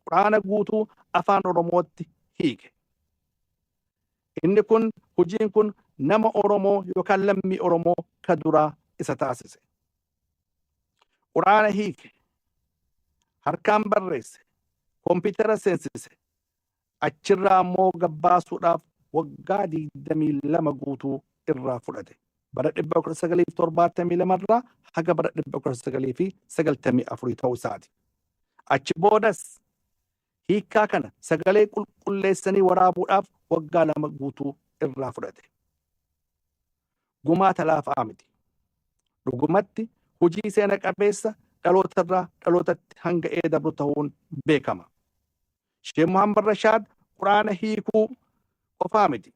Qur'aana guutuu afaan Oromootti hiike. Inni kun hojiin kun nama Oromoo yookaan lammii Oromoo ka duraa isa taasise. Qur'aana hiike, harkaan barreesse, kompiitara seensise, achirraa ammoo gabbaasuudhaaf waggaa 22 guutuu irraa fudhate. bara 1972 irraa haga bara 1994 ta'uu isaati. Achi boodas hiikkaa kana sagalee qulqulleessanii waraabuudhaaf waggaa lama guutuu irraa fudhate. Gumaata laafaa miti. Dhugumatti hojii seena qabeessa dhaloota irraa dhalootatti hanga ee dabru ta'uun beekama. Sheekh Muhammad Rashaad Quraana hiikuu qofaa miti.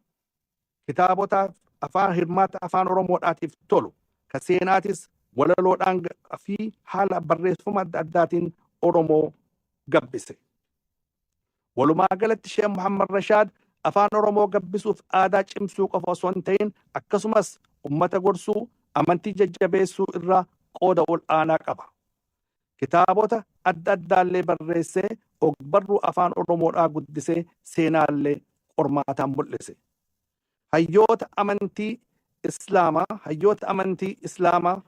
Kitaabota afaan hirmaatta Afaan Oromoodhaatiif tolu, ka seenaatis walaloodhaan fi haala barreeffama adda addaatiin Oromoo gabbise. Walumaa galatti Sheek Muhammad Rashaad Afaan Oromoo gabbisuuf aadaa cimsuu qofa osoo hin ta'in akkasumas ummata gorsuu, amantii jajjabeessuu irraa qooda ol aanaa qaba. Kitaabota adda addaallee barreessee ogbarruu Afaan Oromoodhaa guddisee seenaallee qormaataan mul'ise. Hayyoota amantii Islaamaa hayyoota amantii Islaamaa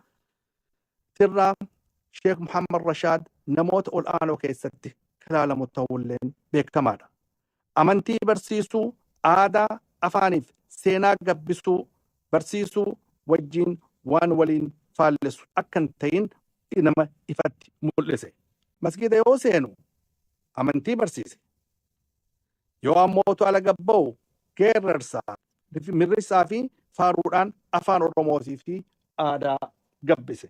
tirraa Sheek Muhammad Rashaad namoota ol'aanoo keessatti kalaalamu ta'uulleen beekamaadha. Amantii barsiisuu, aadaa, afaaniif seenaa gabbisuu, barsiisuu wajjiin waan waliin faallessu akka hin ta'in nama ifatti mul'ise. Masgiida yoo seenu amantii barsiise. Yoo ammoo utuu ala gad ba'u geerrarsa, mirrisaa fi faaruudhaan afaan Oromootii fi aadaa gabbise.